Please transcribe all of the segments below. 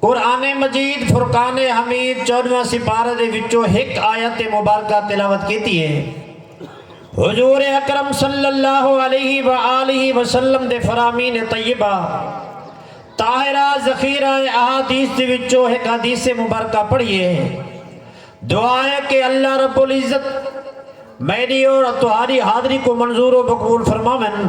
قرآن مجید فرقان حمید چودواں سپارہ دے وچوں ہک آیت مبارکہ تلاوت کیتی ہے۔ حضور اکرم صلی اللہ علیہ وآلہ وسلم دے فرامین طیبہ طاہرہ ذخیرہ احادیث دے وچوں ہک حدیث مبارکہ پڑھیے۔ دعا ہے کہ اللہ رب العزت میڈی اور تہاڈی حاضری کوں منظور و مقبول فرماون۔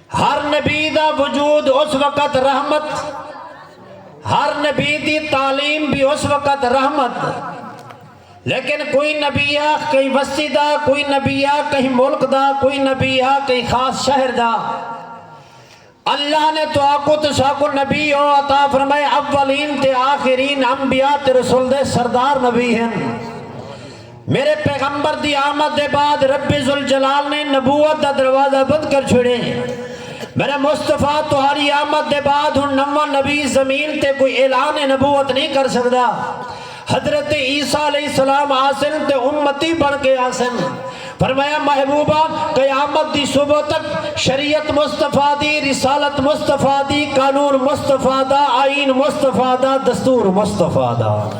ہر نبی دا وجود اس وقت رحمت ہر نبی دی تعلیم بھی اس وقت رحمت لیکن کوئی نبی آ کئی وستی دا کوئی نبی آ کہیں ملک دا کوئی نبی آ کئی خاص شہر دا اللہ نے تو آکو تو ساکو نبی او عطا فرمائے اولین تے آخرین انبیاء تے رسول دے سردار نبی ہیں میݙے پیغمبر دی آمد دے بعد رب ذوالجلال نے نبوت دا دروازہ بند کر چھوڑے۔ میݙے مصطفی تہاݙی آمد دے بعد ہݨ نواں نبی زمین تے کوئی اعلان نبوت نھیں کر سڳدا۔ حضرت عیسی علیہ السلام آسن تے امتی بݨ کے آسن۔ فرمایا محبوبہ! قیامت دی صبح تک شریعت مصطفی دی، رسالت مصطفی دی، قانون مصطفی دا، آئین مصطفی دا، دستور مصطفی دا۔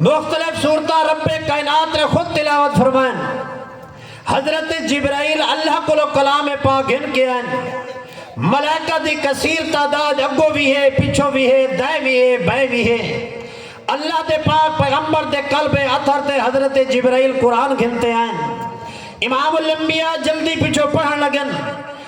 مختلف سورتاں رب کائنات نے خود تلاوت فرمائن۔ حضرت جبرائیل اللہ کولو کلام پاک گھن کے آئن۔ ملائکہ دی کثیر تعداد اگو وی ہے، پچھو وی ہے، دائیں وی ہے، بائیں وی ہے۔ اللہ دے پاک پیغمبر دے قلب اطہر تے حضرت جبرائیل قرآن گھن تے آئن۔ امام الانبیاء جلدی پچھو پڑھن لگن۔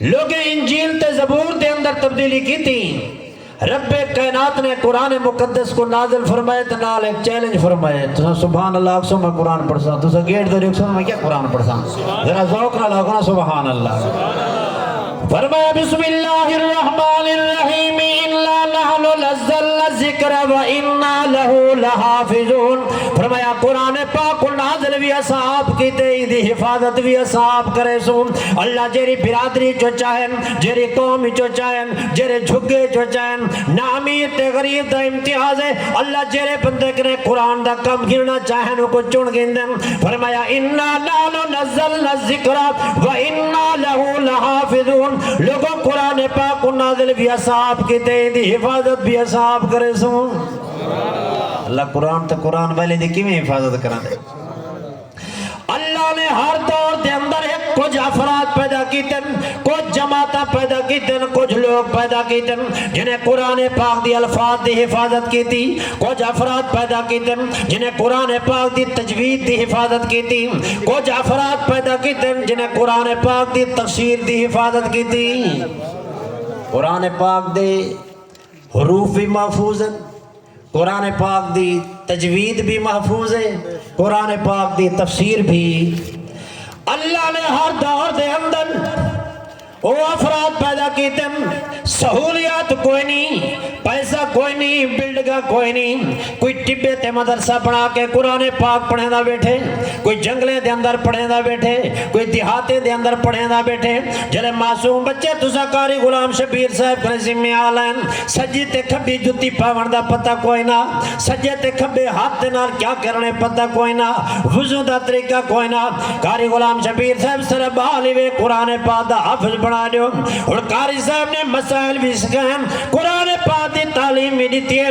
لوکیں انجیل تے زبور دے اندر تبدیلی کیتی۔ رب کائنات نے قرآن مقدس کوں نازل فرمائے تے نال ہک چیلنج فرمائے۔ تساں سبحان اللہ آکھسو میں قرآن پڑھساں۔ تساں گیٹ تے ڈیکھسو میں کیا قرآن پڑھساں۔ ذرا ذوق نال آکھو نا سبحان اللہ۔ فرمایا بسم اللہ الرحمن الرحیم انا نحن نزلنا الذکر وانا لہ لحافظون۔ فرمایا قرآن پاک کوں نازل وی اساں آپ کیتے ایندی حفاظت وی اساں آپ کریسوں۔ اللہ جیرھی برادری اچوں چاہے، جیرھی قوم اچوں چاہے، جیرھے جھگے اچوں چاہے، نہ امیر تے غریب دا امتیاز ہے، اللہ جیرھے بندے کنیں قرآن دا کم گھنڑا چاہن اوکوں چن گھندن، فرمایا انا نحن نزلنا الذکر وانا لہ لحافظون لوگو قرآن پاک کوں نازل وی اساں آپ کیتے ہیں ایندی حفاظت وی اساں آپ کریسوں۔ اللہ قرآن تے قرآن والیں دی کیویں حفاظت کراندے۔ اللہ نے ہر دور دے اندر ہک کجھ افراد پیدا کیتن کجھ جماعتاں پیدا کیتن کجھ لوگ پیدا کیتن جنہیں قرآن پاک دی الفاظ دی حفاظت کیتی کجھ افراد پیدا کیتن جنہیں قرآن پاک دی تجوید دی حفاظت کیتی کجھ افراد پیدا کیتن جنہیں قرآن پاک دی تفسیر دی حفاظت کیتی قرآن پاک دے حروف وی محفوظ ہن، قرآن پاک دی تجوید وی محفوظ ہے، قرآن پاک دی تفسیر بھی۔ اللہ نے ہر دور دے اندر او افراد پیدا کیتے، سہولیات کوئی نی، پیسہ کوئی نی، بلڈگاں کوئی نی، کوئی ٹبے تے مدرسہ بنا کے قرآن پاک پڑھیں دا بیٹھے کوئی جنگلے دے اندر پڑھیں دا بیٹھے کوئی دیہاتے دے اندر پڑھیں دا بیٹھے جلے معصوم بچے تسا کاری غلام شبیر صاحب کرے ذمہ آلین سجی تے کھبی جتی پاون دا پتہ کوئی نہ سجے تے کھبے ہاتھ دے نال کیا کرنے پتہ کوئی نہ وزن دا طریقہ کوئی نہ کاری غلام شبیر صاحب سر بالی وے قرآن پاک دا حافظ بنا دیو اور کاری صاحب نے مسائل بھی سکھائیں قرآن پاک دی تعلیم بھی دیتی ہے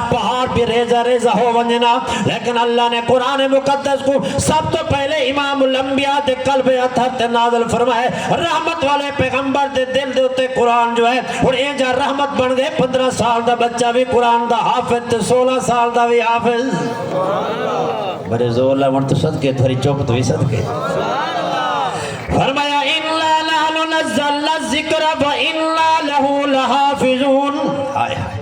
پہاڑ بھی ریزہ ریزہ ہو ونجنا لیکن اللہ نے قرآن مقدس کوں سب توں پہلے امام الانبیاء دے قلب اطہر تے نازل فرمائے رحمت والے پیغمبر دے دل دے اتے قرآن جو ہے ہن اینجھا رحمت بن گئے پندرہ سال دا بچہ وی قرآن دا حافظ تے سولہ سال دا وی حافظ بڑے زور لے ونٹ صدقے تھری چوپت وی صدقے فرمایا انا نحن نزلنا الذکر و انا له لحافظون آئے آئے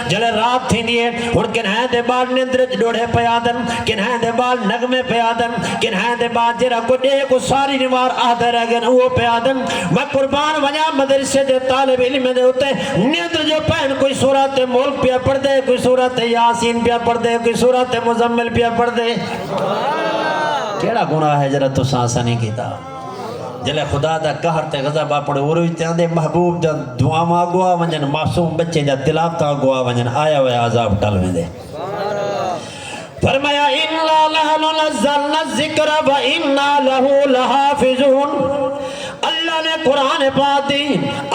جݙاں رات تھیندی ہے ہݨ کنہائیں دے ٻال نندر اچ ݙوڑھے پئے آندن کنہائیں دے ٻال نغمے پئے آندن کنہائیں دے ٻال جیرھا کجھ ݙیہہ کوں ساری نوار آہدے رہ ڳن اوہو پئے آندن میں قربان ونڄاں مدرسے دے طالب علمیں دے اتے نندر جو پہن کوئی سورۃ ملک پیا پڑھدے کوئی سورۃ یاسین پیا پڑھدے کوئی سورۃ مزمل پیا پڑھدے کیہڑا گناہ ہے جیرھا تساں اساں نی کیتا۔ جلے خدا دا قہر تے غضب اپنے عروج تے آندے محبوب دیاں دعاواں اگو آ ونجن معصوم بچے دیاں تلاوتاں اگو آ ونجن آیا ہویا عذاب ٹل ویندے فرمایا انا نحن نزلنا الذکر و انا له لحافظون اللہ نے قرآن پاک دی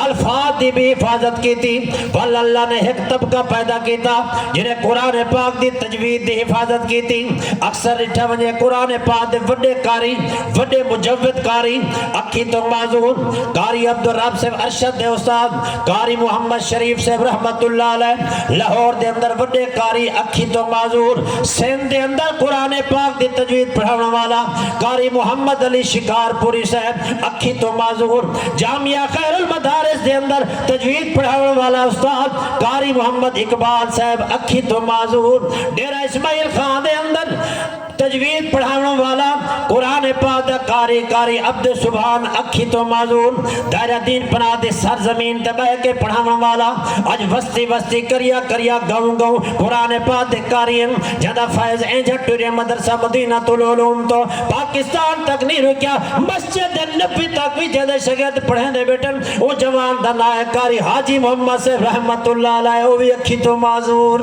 الفاظ دی بھی حفاظت کیتی ول اللہ نے ایک طبقہ پیدا کیتا جنہیں قرآن پاک دی تجوید دی حفاظت کیتی اکثر رٹھا ونجے قرآن پاک دے وڈے قاری وڈے مجود قاری اکھیں توں معذور قاری عبدالرب صاحب ارشد دے استاد قاری محمد شریف صاحب رحمت اللہ علیہ لاہور دے اندر وڈے قاری اکھیں توں معذور سندھ دے اندر قرآن پاک دی تجوید پڑھاوݨ والا قاری محمد علی شکار پوری صاحب اکھیں توں معذور جامعہ خیر المدارس دے اندر تجوید پڑھاوݨ والا استاد قاری محمد اقبال صاحب اکھیں توں معذور ڈیرہ اسماعیل خاں دے اندر تجوید پڑھاونڑ والا، قرآن پاک دا قاری، قاری عبدالسبحان اکھی توں معزول، دائرہ دین پناہ دی سر زمین تے بہہ کے پڑھاونڑ والا، اج وستی وستی، قریہ قریہ، گاؤں گاؤں، قرآن پاک دے قاری ہن، جیندا فیض اینجھا ٹریا مدرسہ مدینۃ العلوم توں پاکستان تک نی رکیا، مسجد نبوی تک وی جیندے شاگرد پڑھیندے بیٹھن، اوں جوان دا ناں ہے قاری حاجی محمد صیب رحمت اللہ علیہ، او وی اکھی توں معزول۔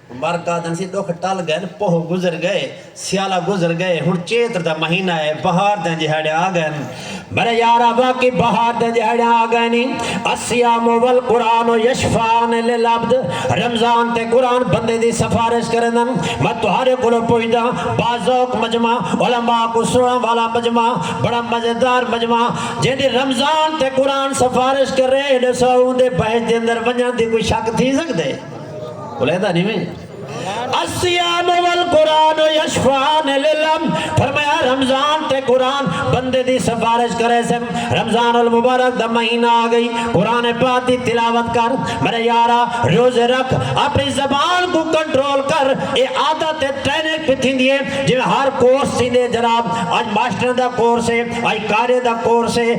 مرک آدھن سی ڈکھ ٹل گئن پوہ گزر گئے سیالہ گزر گئے ہن چیتر دا مہینہ ہے بہار دیاں جہاڑیاں آ گئن میرے یارا واقعی بہار دیاں جہاڑیاں آ گئن نی الصیام والقرآن یشفعان للعبد رمضان تے قرآن بندے دی سفارش کریندن میں تہاڈے کولوں پچھدا با ذوق مجمع علماء کوں سنڑن والا مجمع بڑا مزیدار مجمع جیندی رمضان تے قرآن سفارش کرے ڈسو اوندے بہشت دے اندر ونجن دی کوئی شک تھی سگدے علیحدہ نہیں میں السیام والقرآن یشفان للم فرمایا رمضان تے قرآن بندے دی سفارش کرے سے رمضان المبارک دا مہینہ آگئی قرآن پاک دی تلاوت کر میرے یارا روز رکھ اپنی زبان کو کنٹرول کر اے عادت تے ٹرینک پتھی دیئے جو ہر کورس سیندے جناب آج ماسٹر دا کورس ہے آج کارے دا کورس ہے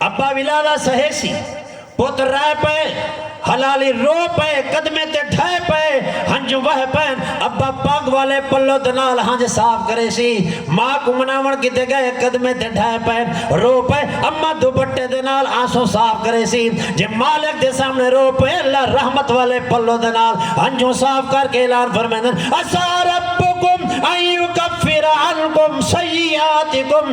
ابا ولا دا سہے سی پت رہے پئے حلالی رو پئے قدمیں تے ڈھہے پئے ہنجوں وہے پئن ابا پگ والے پلو دے نال ہنج صاف کرے سی ما کوں مناون کیتے گئے قدمیں تے ڈھہے پئے رو پئے اما دوپٹے دے نال آنسوں صاف کرے سی جے مالک دے سامنے رو پئے اللہ رحمت والے پلو دے نال ہنجوں صاف کر کے اعلان فرمیندن عسا ربکم ان یکفر عنکم سیئاتکم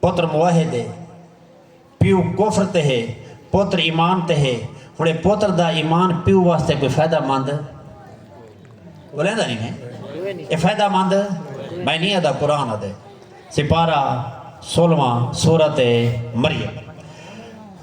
پتر موحد ہے، پیو کفر تے ہے، پتر ایمان تے ہے، ہݨ اے پتر دا ایمان پیو واسطے کوئی فائدہ مند؟ ٻولیندا نی میں، اے فائدہ مند؟ میں نی آہدا قرآن آہدے، سپارہ سولہواں، سورۃ مریم۔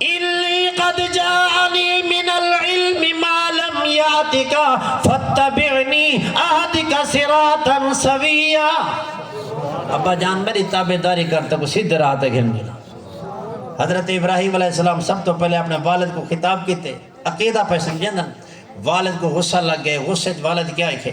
انی قد جاءنی من العلم ما لم یاتک فاتبعنی اہدک صراطا سویا ابا جان میڈی تابعداری کر تیکوں سیدھے راہ تے گھن وینداں حضرت ابراہیم علیہ السلام سب تو پہلے اپنے والد کو خطاب کیتے عقیدہ پہ سمجھیندن والد کو غصہ لگ گئے غصے وچ والد کیا آکھے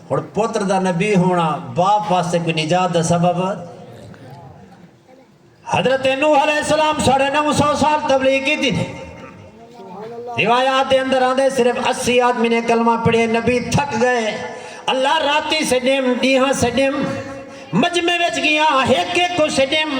ہݨ پتر دا نبی ہونا باپ واسطے کوئی نجات دا سبب حضرت نوح علیہ السلام ساڑھے نو سو سال تبلیغ کی تھی روایات دے اندر آندے صرف اسی آدمی نے کلمہ پڑھے نبی تھک گئے اللہ راتی سے ڈیم ڈیہاں سے ڈیم مجمع وچ گیا ایک ایک کو سے ڈیم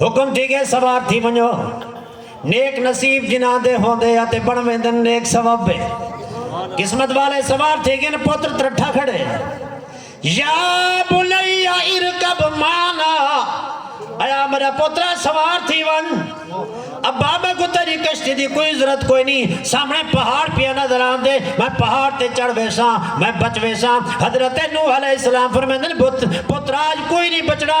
حکم تھی گئے سوار تھی ونجو نیک نصیب جناں دے ہوندے یا تے بن ویندن نیک سواب بے قسمت والے سوار تھی گئے پتر ترٹھا کھڑے یا بنی ارکب مانا ایا میرا پترا سوار تھی ون اب بابا کو تیری کشتی دی کوئی ضرورت کوئی نہیں سامنے پہاڑ پیا نظر آن دے میں پہاڑ تے چڑھ ویسا میں بچ ویسا حضرت نوح علیہ السلام فرمیندن پتراج کوئی نہیں بچڑا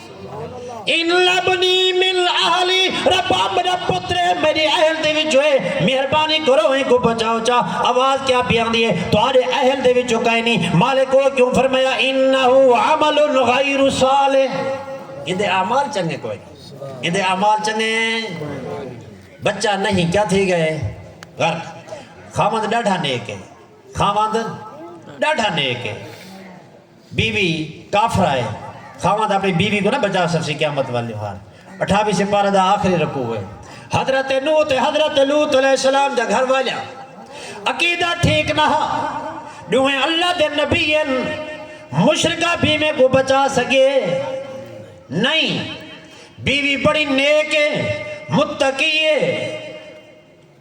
ان لبنی من اہلی ربا میرا پتر ہے میری اہل دے وچ ہوئے مہربانی کرو ہیں کو بچاؤ چا آواز کیا بیان دیئے تو آرے اہل دے وچ ہوکائی نہیں مالک وہ کیوں فرمایا انہو عمل غیر صالح یہ دے اعمال چنگے کوئی یہ دے اعمال چنگے بچہ نہیں کیا تھی گئے گھر خامد ڈاڑھا نیک ہے خامد ڈاڑھا نیک ہے بیوی کافرہ ہے۔ خاوند اپݨی بیوی کوں نہ بچا سڳسی قیامت والے ݙینہوار اٹھاویں سپارہ دا آخری رکوع ہے۔ حضرت نوح تے حضرت لوط علیہ السلام دے گھر والیاں دا عقیدہ ٹھیک نہ ہا۔ ݙوہیں اللہ دے نبی ہن۔ مشرکہ بیویں کوں بچا سڳے؟ نئیں۔ بیوی بڑی نیک ہے، متقی ہے۔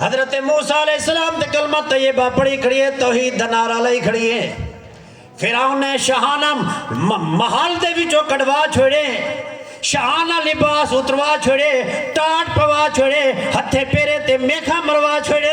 حضرت موسی علیہ السلام تے کلمہ طیبہ پڑھی کھڑیے توحید دا نعرہ لائی کھڑیے فرعون نے شہانہ محل دے وچوں کڈوا چھوڑے شہانہ لباس اتروا چھوڑے ٹاٹ پوا چھوڑے ہتھے پیرے تے میکھا مروا چھوڑے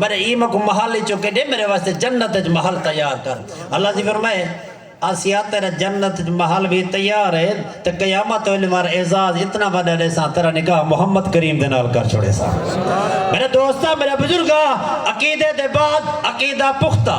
میڈے ایں مکوں محل اچوں کڈھے میڈے واسطے جنت اچ محل تیار کر اللہ دی فرمائے اسیاں تیڈا جنت اچ محل وی تیار اے تے قیامت ویلے مار اعزاز اتنا وڈا ڈیساں تیڈا نکاح محمد کریم دے نال کر چھوڑیساں میڈے دوستاں میڈے بزرگاں عقیدے دے بعد عقیدہ پختہ۔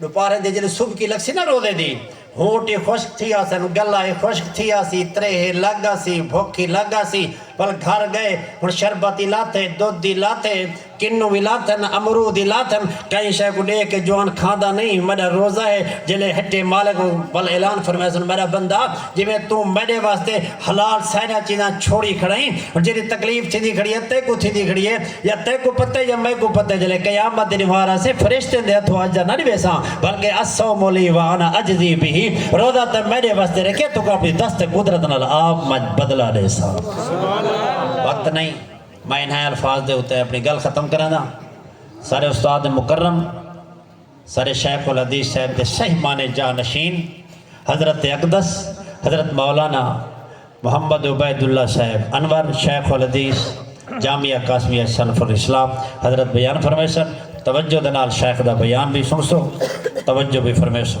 ݙوپارے دے جݙوں سبکی لڳسی نہ روزے دی ہوٹ ای خشک تھی آسن گلا ای خشک تھی آسی تریہہ لڳ آسی بھک ای لڳ آسی ول گھر ڳئے ہݨ شربت ای لاتھے دودھ دی لاتھے کنوں وی لاتھن امرود ای لاتھن کہیں شے کوں ݙیکھ کے جوان کھاندا نئیں میݙا روزہ ہے جیلے ہٹے مالک ول اعلان فرمائیسن میݙا بندہ جیویں توں میݙے واسطے حلال سائیراں چیزاں چھوڑی کھڑئیں ہݨ جیݙی تکلیف تھیندی کھڑی ہے تیکوں تھیندی کھڑی ہے یا تیکوں پتہ ہے یا میکوں پتہ ہے جلے قیامت دے ڈیوار آسے فرشتیں دے ہتھوں اج دا نہ ڈیویساں بلکہ الصوم لی وانا اجزی بہ روزہ تاں میڈے واسطے رکھیا توں اپنی دست قدرت نال آپ منجھ بدلہ ڈیساں وقت نہیں میں انہائیں الفاظ دے اتے اپنی گل ختم کراں دا سارے استاد مکرم سر شیخ الحدیث صاحب دے صحیح معنی جاں نشین حضرت اقدس حضرت مولانا محمد عبید اللہ صاحب انور شیخ الحدیث جامعہ قاسمیہ سلف الاسلام حضرت بیان فرمیسن توجہ دے نال شیخ دا بیان وی سنسو توجہ وی فرمیسو۔